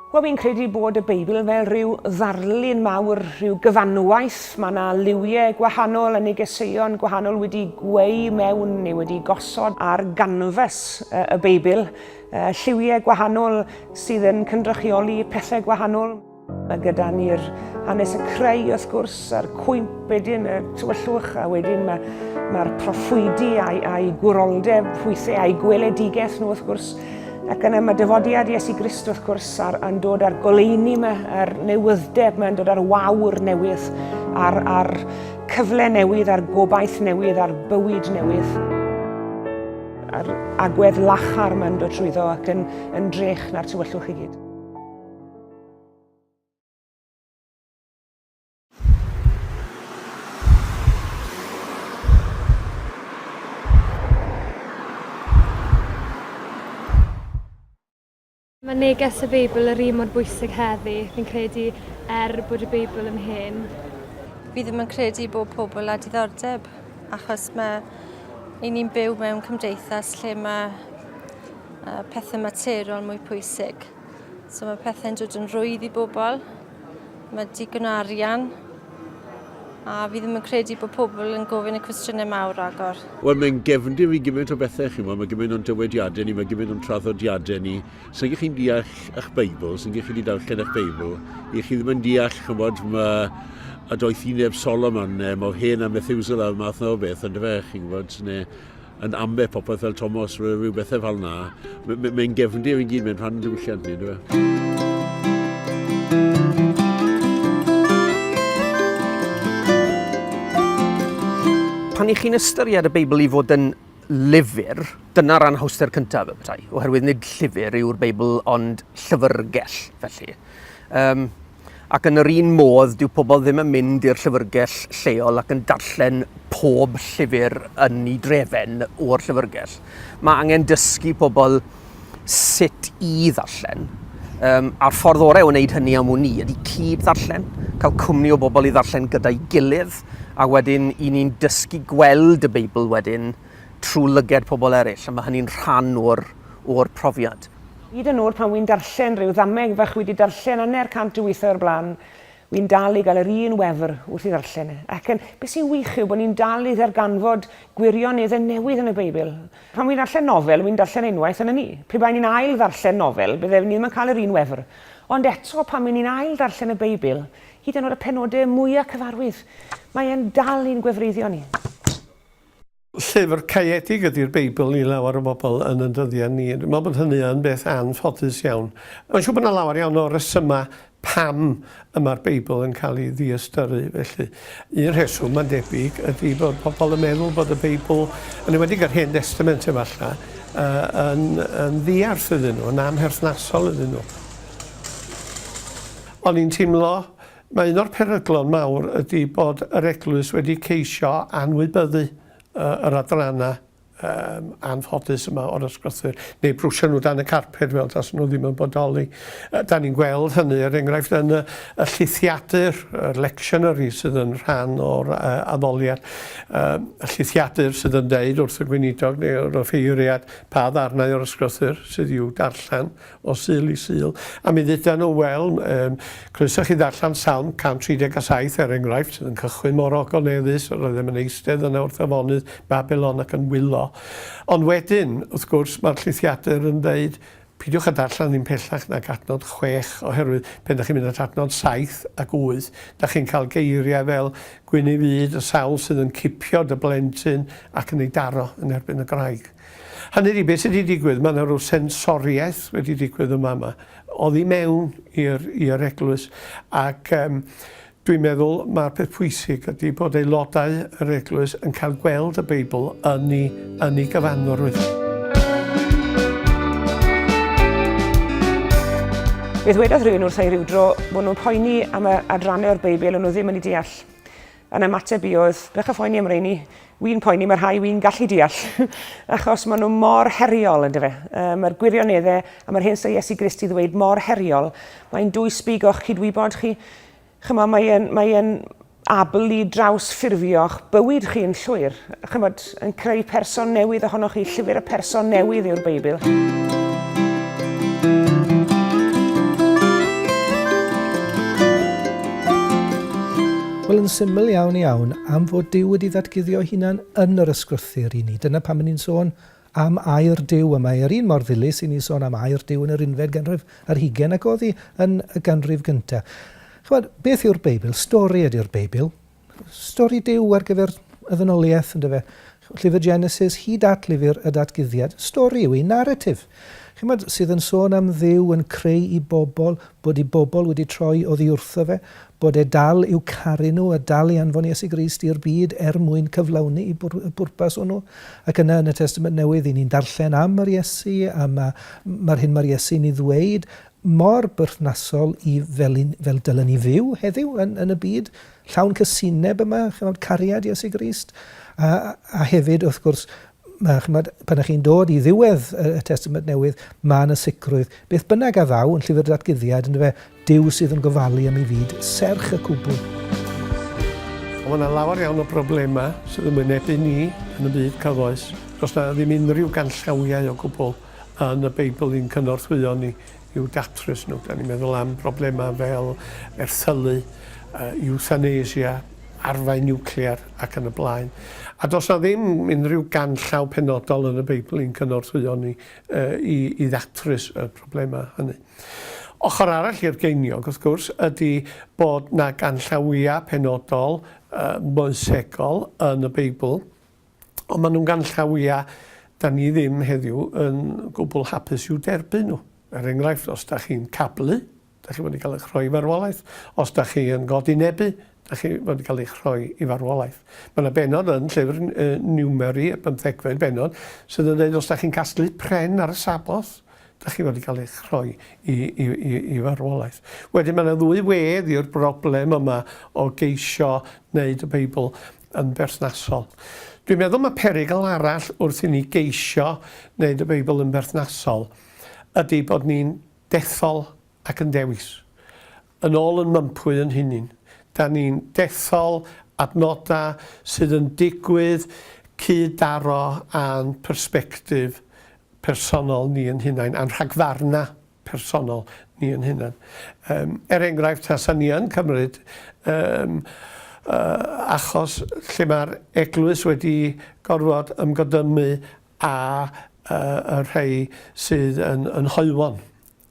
Wel, fi'n credu bod y Beibl fel rhyw ddarlun mawr, rhyw gyfanwaith. Mae yna liwiau gwahanol yn negeseuon gwahanol wedi gweu mewn neu wedi gosod ar ganfas y Beibl. Lliwiau gwahanol sydd yn cynrychioli pethau gwahanol. Mae gyda ni'r hanes y creu wrth gwrs a'r cwymp wedyn y tywyllwch a wedyn mae'r mae proffwydi a'i, ai gwroldeb hwythau a'i gweledigaeth nhw wrth gwrs ac yna mae dyfodiad Iesu Grist wrth gwrs ar, yn dod ar goleini yma a'r newyddeb mae'n dod ar wawr newydd a'r, ar cyfle newydd a'r gobaith newydd a'r bywyd newydd a'r agwedd lachar mae'n dod trwyddo ac yn, yn drech na'r tywyllwch i gyd. Mae neges y Beibl yr un mor bwysig heddi, fi'n credu, er bod y Beibl yn hen. Fi ddim yn credu bod pobl a diddordeb, achos mae i ni'n byw mewn cymdeithas lle mae pethau materol mwy pwysig. So mae pethau'n dod yn rwydd i bobl. Mae digon o arian. A fi ddim yn credu bod pobl yn gofyn y cwestiynau mawr agor. Wel, mae'n gefndir i gymaint o bethau, chi'n gwybod, mae gymaint o'n dywediadau ni, mae gymaint o'n traddodiadau ni. Sa'n gych chi'n deall eich Beibl, sa'n gych chi wedi darllen eich Beibl, i chi ddim yn deall, chi'n gwybod, mae a doeth i neb Solomon, neu mor hen a Methuselah, math na o beth, ond fe, chi'n gwybod, neu yn amleth popeth fel Tomos, rhyw bethau fel na. Mae'n gefndir i gyd, mae'n rhan diwylliant ni, dwi e? pan i chi'n ystyried y Beibl i fod yn lyfr, dyna'r anhawster cyntaf y petai, oherwydd nid llyfr yw'r Beibl ond llyfrgell, felly. Um, Ac yn yr un modd, dyw pobl ddim yn mynd i'r llyfrgell lleol ac yn darllen pob llyfr yn ei drefen o'r llyfrgell. Mae angen dysgu pobl sut i ddarllen. Um, a'r ffordd orau o wneud hynny am wn i ydy cyd ddarllen, cael cwmni o bobl i ddarllen gyda'i gilydd, a wedyn i ni'n dysgu gweld y Beibl wedyn trwy lyged pobl eraill, a mae hynny'n rhan o'r o'r profiad. Hyd yn oed pan wi'n darllen rhyw ddameg fach wi 'di darllen anner cant o withoedd o'r blaen, wi'n dal i gael yr un wefr wrth i ddarllen e. Ac yn, be sy'n wych yw bod ni'n dal i ddarganfod gwirioneddau newydd yn y Beibl. Pan wi'n darllen nofel, wi'n darllen unwaith yn ynni. Pe baen ni'n ail ddarllen nofel, bydde ni ddim yn cael yr un wefr. Ond eto, pan wi'n ni'n ail ddarllen y Beibl, hyd yn oed y penodau mwya cyfarwydd, mae e'n dal i'n gwefreiddio ni. Llyfr caeedig ydi'r Beibl i lawer o bobl yn yn dyddiau ni. Dwi'n meddwl bod hynny yn beth anffodus iawn. Mae'n siŵr bod 'na lawer iawn o resymau pam y mae'r Beibl yn cael ei ddiystyru felly. Un rheswm, mae'n debyg, ydi bod pobl yn meddwl bod y Beibl, yn enwedig yr Hen Destament efallai, yy yn yn ddiarth iddyn nhw, yn amherthnasol iddyn nhw. O'n i'n teimlo Mae un o'r peryglon mawr ydy bod yr Eglwys wedi ceisio anwybyddu yr adrannau um, anffodus yma o'r ysgrythur, neu brwsio nhw dan y carped fel tas nhw ddim yn bodoli. Da ni'n gweld hynny, er enghraifft, yn y, y llithiadur, y lectionary sydd yn rhan o'r uh, addoliad, um, y llithiadur sydd yn deud wrth y gweinidog neu wrth y ffeiriad pa ddarnau o'r ysgrythur sydd i'w darllen o Sul i Sul, a mi dduda nhw, wel, um, croeso chi ddarllen Salm 137 er enghraifft, sydd yn cychwyn mor ogoneddus, yr oeddem yn eistedd yna wrth afonydd Babylon ac yn wylo. Ond wedyn, wrth gwrs, mae'r llithiadur yn dweud, pidiwch a darllen ddim pellach nag adnod chwech, oherwydd pen da chi'n mynd at adnod saith ac wyth, da chi'n cael geiriau fel gwyn ei fyd, y sawl sydd yn cipio dy blentyn ac yn ei daro yn erbyn y graig. Hynny ydi, beth sydd wedi digwydd, mae yna rhyw sensoriaeth wedi digwydd yma yma, oddi mewn i'r eglwys, ac um, dwi'n meddwl mae'r peth pwysig ydy bod aelodau yr eglwys yn cael gweld y Beibl yn ei, yn ei gyfanrwydd. Fe ddwedodd rhywun wrth ei rywdro bod nhw'n poeni am y adrannau o'r Beibl o'n nhw ddim yn ei deall. Yn ymateb i oedd, bech o phoeni am reini. Wi'n poeni, mae rhai wi'n gallu deall, achos maen nhw mor heriol, ynddo fe. Um, mae'r gwirioneddau a mae'r hyn sy'n Iesu Grist i ddweud mor heriol. Mae'n dwy sbig o'ch cydwybod chi. Chymod, mae'n mae abl i draws ffurfio'ch bywyd chi yn llwyr. Chymod, yn creu person newydd ohonoch chi. Llyfr y person newydd yw'r Beibl. Wel, yn syml iawn iawn, am fod Dyw wedi ddatguddio hunan yn yr ysgrythyr i ni. Dyna pam ni'n sôn am air Dyw, a mae yr un mor ddilys i ni sôn am air Dyw yn yr unfed ganrif ar hugen ac oddi yn y ganrif gyntaf. Chymod, beth yw'r Beibl? Stori ydy'r Beibl. Stori Duw ar gyfer y ddynoliaeth, ynddo fe. Llyfr Genesis hyd at lyfr y Datguddiad, stori yw hi, naratif, chymod, sydd yn sôn am Dduw yn creu i bobl, bod i bobl wedi troi oddi wrtho fe, bod e dal i'w caru nhw a dal i anfon Iesu Grist i'r byd er mwyn cyflawni y pwrpas hwnnw. Ac yna yn y Testament Newydd, i ni'n darllen am yr Iesu, a mae'r hyn mae'r Iesu'n ei ddweud mor berthnasol i fel yn, fel dylen ni fyw heddiw yn, yn y byd llawn cysineb yma, chymod, cariad Iesu Grist, a, a hefyd, wrth gwrs, mae, chymod, pan ych chi'n dod i ddiwedd y Testament Newydd, mae yna sicrwydd, beth bynnag a ddaw yn llyfr datguddiad, yn fe, Dyw sydd yn gofalu am ei fyd, serch y cwbl. Ond mae yna lawer iawn o broblemau sydd yn wynebu ni yn y byd cyfoes. Does yna ddim unrhyw ganllawiau o gwbl. yn y Beibl i'n cynorthwyo ni i'w datrys nhw. Da ni'n meddwl am broblemau fel erthylu, iwthanesia, arfau niwclear ac yn y blaen. A does na ddim unrhyw ganllaw penodol yn y Beibl i'n cynorthwyo ni i, i ddatrys y problemau hynny. Ochr arall i'r geiniog, wrth gwrs, ydy bod na ganllawiau penodol uh, moesegol yn y Beibl Ond maen nhw'n ganllawiau da ni ddim heddiw yn gwbl hapus i'w derbyn nhw. Er enghraifft, os da chi'n cablu, da chi fod i gael eich rhoi i farwolaeth. Os da chi yn godinebu, da chi fod i gael eich rhoi i farwolaeth. Mae yna benod yn llyfr Niwmeri, y bymthegfed benod, sydd yn dweud os da chi'n casglu pren ar y Sabboth, da chi fod i gael eich rhoi i, i, i, i farwolaeth. Wedyn mae yna ddwy wedd i'r broblem yma o geisio wneud y Beibl yn berthnasol. Dwi'n meddwl mae perygl arall wrth i ni geisio wneud y Beibl yn berthnasol ydy bod ni'n dethol ac yn dewis. Yn ôl yn mympwy yn hunin. Da ni'n dethol adnodau sydd yn digwydd cyd-daro â'n persbectif personol ni yn hunain, a'n rhagfarnau. personol ni yn hunan. Yym, er enghraifft, tasa ni yn cymryd yym yy achos lle mae'r eglwys wedi gorfod ymgodymu â yy y rhei sydd yn yn hoywon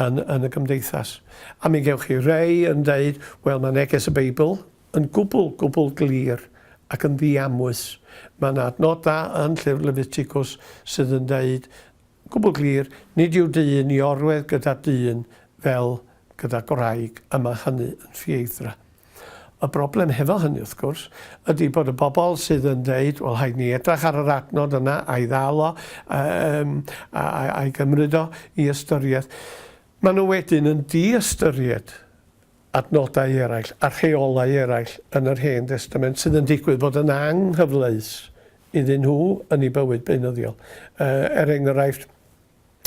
yn yn y gymdeithas. A mi gewch chi rei yn deud, wel, mae neges y Beibl yn gwbl, gwbl glir ac yn ddiamwys. Mae 'na adnodau yn llyfr Lefiticws sydd yn deud Gwbl glir, nid yw dyn i orwedd gyda dyn fel gyda gwraig y mae hynny yn ffieithdra. Y broblem hefo hynny, wrth gwrs, ydy bod y bobl sydd yn deud, wel rhaid ni edrach ar yr adnod yna a'i ddal o, yym, a, a, a'i gymryd o i ystyriaeth, maen nhw wedyn yn di-ystyried adnodau eraill a rheolau eraill yn yr Hen Destament sydd yn digwydd bod yn anghyfleus iddyn nhw yn eu bywyd beunyddiol. Er enghraifft,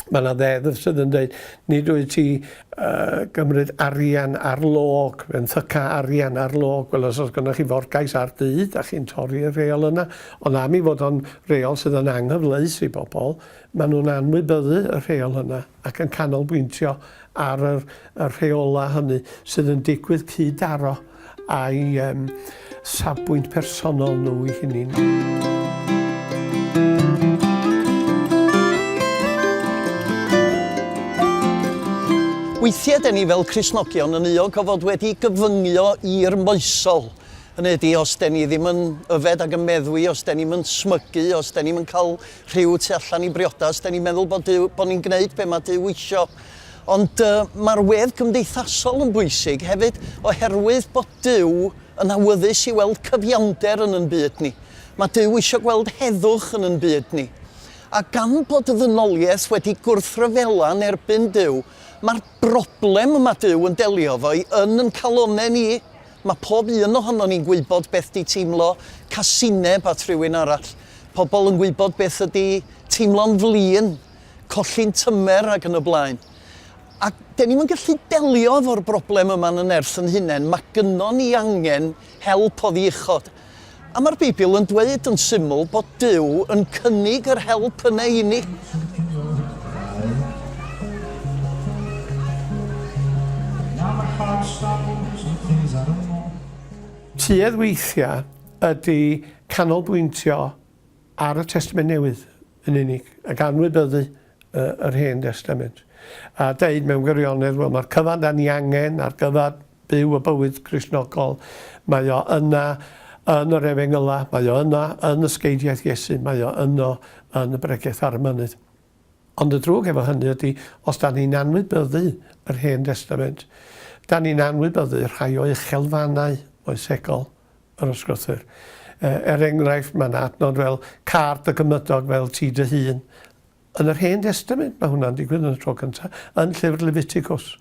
mae yna ddeddf sydd yn dweud, nid wyt ti uh, gymryd arian ar log, yn thyca arian ar log. Wel, os oes gynnwch chi forgais ar dŷ, da chi'n torri'r reol yna. Ond am i fod o'n reol sydd yn anghyfleus i bobl, maen nhw'n anwybyddu y rheol yna. ac yn canolbwyntio ar yr y rheolau hynny sydd yn digwydd cyd-daro â'i um, safbwynt personol nhw i hynny. Weithiau dyn ni fel Crisnogion yn uog o fod wedi gyfyngio i'r moesol. Hynny ydy, os dyn ni ddim yn yfed ac yn meddwi, os dyn ni'n smygu, os dyn ni'n cael Rhyw tu allan i briodas, dan ni'n meddwl bod Duw, bod ni'n gwneud be mae Duw isio. Ond uh, mae'r wedd gymdeithasol yn bwysig hefyd, oherwydd bod Duw yn awyddus i weld cyfiawnder yn yn byd ni. Mae Duw eisiau gweld heddwch yn yn byd ni. A gan bod y ddynoliaeth wedi gwrthryfela yn erbyn Duw, mae'r broblem y mae Duw yn delio fo'i yn yn calonau ni Mae pob un ohonon ni'n gwybod beth 'di teimlo casineb at rywun arall. Pobl yn gwybod beth ydi teimlo'n flin, colli'n tymer ac yn y blaen. A 'den ni'm yn gallu delio efo'r broblem yma'n y nerth yn hunain. Mae gynnon ni angen help oddi uchod. A mae'r Beibl yn dweud yn syml bod Duw yn cynnig yr help yna i ni. Tuedd weithiau ydy canolbwyntio ar y Testament Newydd yn unig, ac anwybyddu yr Hen Destament, a deud mewn gwirionedd, wel, mae'r cyfan dan ni angen ar gyfer byw y bywyd Cristnogol, mae o yna yn yr Efengylau, mae o yna yn ysgeidiaeth Iesu, mae o yno yn y Bregeth ar y Mynydd. Ond y drwg efo hynny ydy, os dan ni'n anwybyddu yr Hen Destament, dan ni'n anwybyddu rhai o uchelfannau moesegol. yr ysgrythur. Er enghraifft, mae yna adnod fel car dy gymydog fel ti dy hun. Yn yr Hen Destament, mae hwnna'n digwydd yn y tro cyntaf, yn llyfr Leviticus.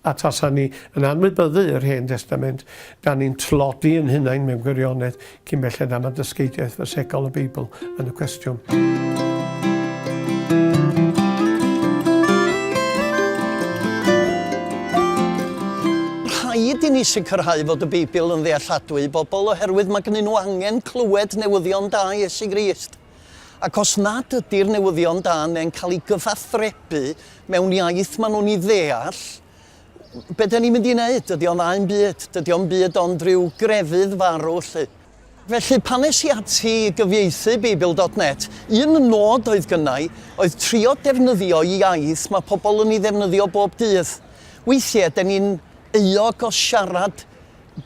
A tasa ni yn anwybyddu yr Hen Destament, da ni'n tlodi yn hunain mewn gwirionedd cyn belled am y dysgeidiaeth fasegol y Beibl yn y cwestiwn. Rhaid i ni sicrhau fod y Beibl yn ddealladwy i bobl oherwydd mae gennyn nhw angen clywed newyddion da Iesu Grist. Ac os nad ydy'r newyddion da neu'n cael ei gyfathrebu mewn iaith maen nhw'n ei ddeall, be da ni'n mynd i wneud? Dydy o'n ddau'n byd, dydy o'n byd ond rhyw grefydd farw lle. Felly, pan es i ati i gyfieithu Beibl dot net, un nod oedd gynnau oedd trio defnyddio iaith mae pobl yn ei ddefnyddio bob dydd. Weithiau, de ni'n euog o siarad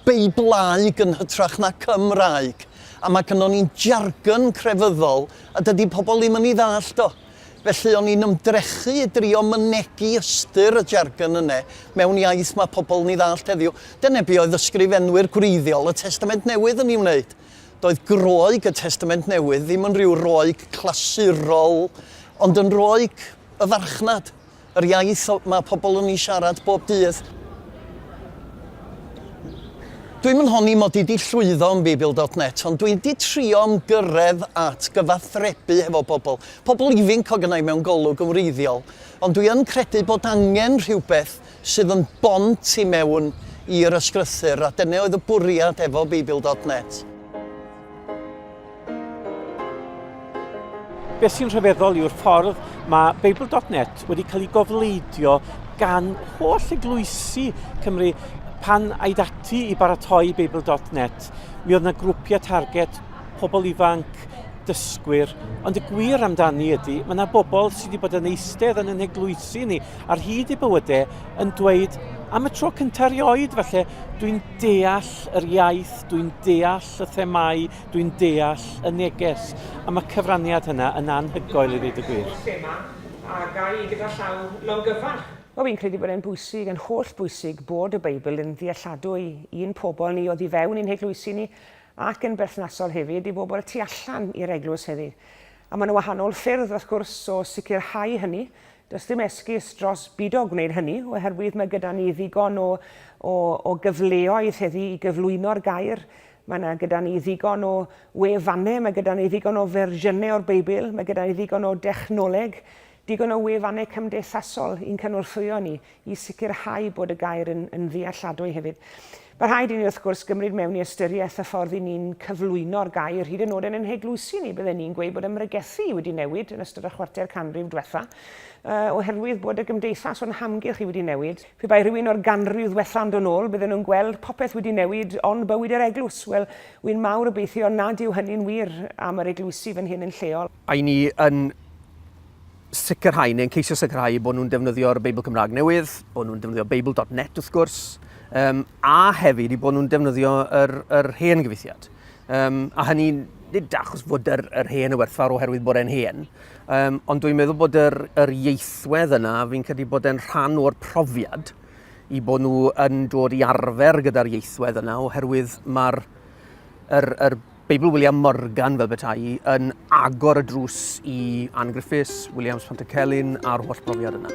Beiblaeg yn hytrach na Cymraeg, a mae gynnon ni'n jargon crefyddol a dydy pobl ddim yn ei ddallt o. Felly o'n i'n ymdrechu i drio mynegi ystyr y jargon yne mewn iaith mae pobl yn ei ddallt heddiw. Dyna be oedd ysgrifenwyr gwreiddiol y Testament Newydd yn ei wneud. Doedd Groeg y Testament Newydd ddim yn rhyw Roeg clasurol, ond yn Roeg y farchnad. Yr iaith mae pobl yn ei siarad bob dydd. Dwi'm yn honni mod i 'di llwyddo yn Beibl dot net, ond dwi 'di trio ymgyrredd at gyfathrebu hefo pobl, pobl ifinc o gynnau mewn golwg yn wreiddiol, ond dwi yn credu bod angen rhywbeth sydd yn bont i mewn i'r ysgrythur, a dyna oedd y bwriad efo Beibl dot net. Beth sy'n rhyfeddol yw'r ffordd mae Beibl.net wedi cael ei gofleidio gan holl eglwysi Cymru pan aid ati i baratoi Beibl.net. Mi oedd yna grwpiau target, pobl ifanc, dysgwyr, ond y gwir amdani ydy, mae yna bobl sydd wedi bod yn eistedd yn yn eglwysi ni ar hyd i bywydau yn dweud am y tro cyntaf erioed, falle dwi'n deall yr iaith, dwi'n deall holl y themâu dwi'n deall y neges am y cyfraniad hynna yn anhygoel i ddweud y gwir. Holl thema a ga i gyda llaw longyfarch. Wel fi'n credu bod e'n bwysig, yn holl bwysig bod y Beibl yn ddealladwy i'n pobl ni oddi fewn i'n heglwysi ni ac yn berthnasol hefyd i bobl tu allan i'r eglwys hefyd. A mae 'na wahanol ffyrdd wrth gwrs o sicrhau hynny, Does dim esgus dros bido gwneud hynny, oherwydd mae gyda ni ddigon o, o, o gyfleoedd heddi i gyflwyno'r gair. Mae yna gyda ni ddigon o wefannau, mae gyda ni ddigon o fersiynau o'r Beibl, mae gyda ni ddigon o dechnoleg, digon o wefannau cymdeithasol i'n cynorthwyo ni i sicrhau bod y gair yn, yn ddealladwy hefyd. Mae rhaid i ni, wrth gwrs, gymryd mewn i ystyriaeth y ffordd i ni'n cyflwyno'r gair, hyd yn oed yn ein heglwysi ni, bydden ni'n gweud bod ymregethu wedi newid yn ystod y chwarter canrif diwetha, uh, oherwydd bod y gymdeithas o'n hamgylch i wedi newid. Pe bai rhywun o'r ganrif ddiwetha yn dod ôl, bydden nhw'n gweld popeth wedi newid ond bywyd yr eglwys. Wel, wy'n mawr obeithio nad yw hynny'n wir am yr eglwysi fan hyn yn lleol. I ni yn sicrhau, neu'n ceisio sicrhau, bod nhw'n defnyddio'r Beibl Cymraeg newydd, bod nhw'n defnyddio Beibl.net wrth gwrs, um, a hefyd i bod nhw'n defnyddio yr, yr hen gyfeithiad. Um, a hynny nid achos fod yr, yr hen y werthfawr oherwydd bod e'n hen, um, ond dwi'n meddwl bod yr, yr ieithwedd yna, fi'n credu bod e'n rhan o'r profiad i bod nhw yn dod i arfer gyda'r ieithwedd yna, oherwydd mae'r yr, yr Beibl William Morgan, fel beta'i, yn agor y drws i Ann Griffiths, Williams Pantycelyn a'r holl brofiad yna.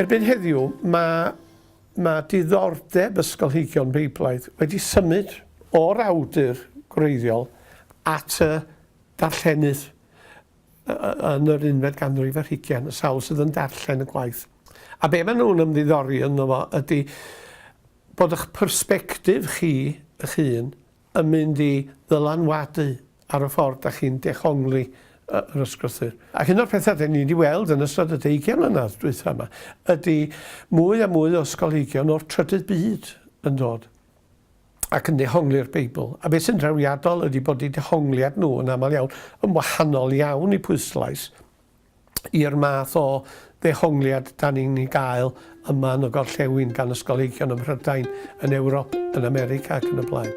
Erbyn heddiw, mae, mae diddordeb ysgolheigion Beiblaidd wedi symud o'r awdur gwreiddiol at y darllenydd. yn yr unfed ganrif ar hugain, y sawl sydd yn darllen y gwaith. A be maen nhw'n ymddiddori ynddo fo ydy bod eich persbectif chi eich hun yn mynd i ddylanwadu ar y ffordd da chi'n dehongli yr ysgrythur. Ac un o'r pethau da ni wedi weld yn ystod y deugain mlynedd dwytha yma ydy mwy a mwy o ysgolheigion o'r trydydd byd yn dod ac yn dehongli'r Beibl, a beth sy'n drawiadol ydy bod eu dehongliad nhw yn aml iawn yn wahanol iawn i pwyslais i'r math o ddehongliad dan ni'n ei gael yma yn y gorllewin gan ysgolheigion ym Mhrydain, yn Ewrop, yn America ac yn y blaen.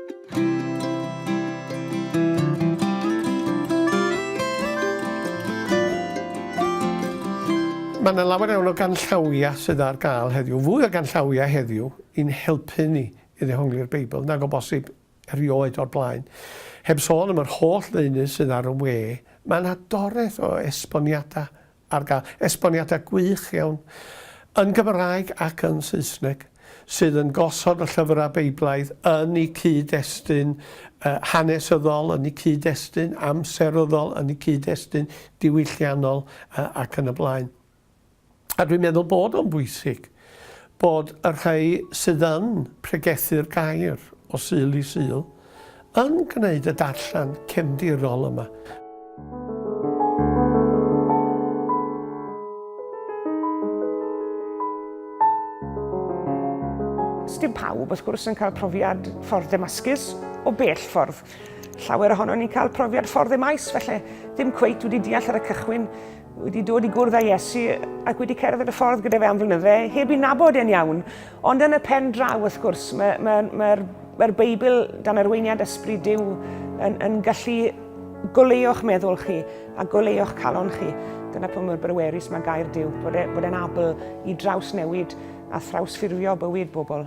Mae yna lawer iawn o ganllawiau sydd ar gael heddiw, fwy o ganllawiau heddiw ein helpu ni i ddehongli'r Beibl nag o bosib erioed o'r blaen. Heb sôn am yr holl ddeunydd sydd ar y we, mae yna doreth o esboniadau ar gael, esboniadau gwych iawn, yn Gymraeg ac yn Saesneg, sydd yn gosod y llyfrau Beiblaidd yn eu cyd-destun hanesyddol, yn eu cyd-destun amseryddol, yn eu cyd-destun diwylliannol ac yn y blaen. A dwi'n meddwl bod o'n bwysig bod y rhai sydd yn pregethu'r gair o Sul i Sul yn gwneud y darllen cefndirol yma. Dim pawb, wrth gwrs, yn cael profiad ffordd Ddemascus o bell ffordd. Llawer ohono ni'n cael profiad ffordd Emmaus, felly ddim cweit wedi deall ar y cychwyn wedi dod i gwrdd â Iesu ac wedi cerdded y ffordd gyda fe am flynydde, heb i nabod e'n iawn. Ond yn y pen draw, wrth gwrs, mae'r mae, mae, mae, mae Beibl dan arweiniad ysbryd Dyw yn, yn gallu goleuo'ch meddwl chi a goleuo'ch calon chi. Dyna pwy mor brywerus mae gair Dyw, bod, e, bod e'n abl i draws newid a thrawsffurfio bywyd bobl.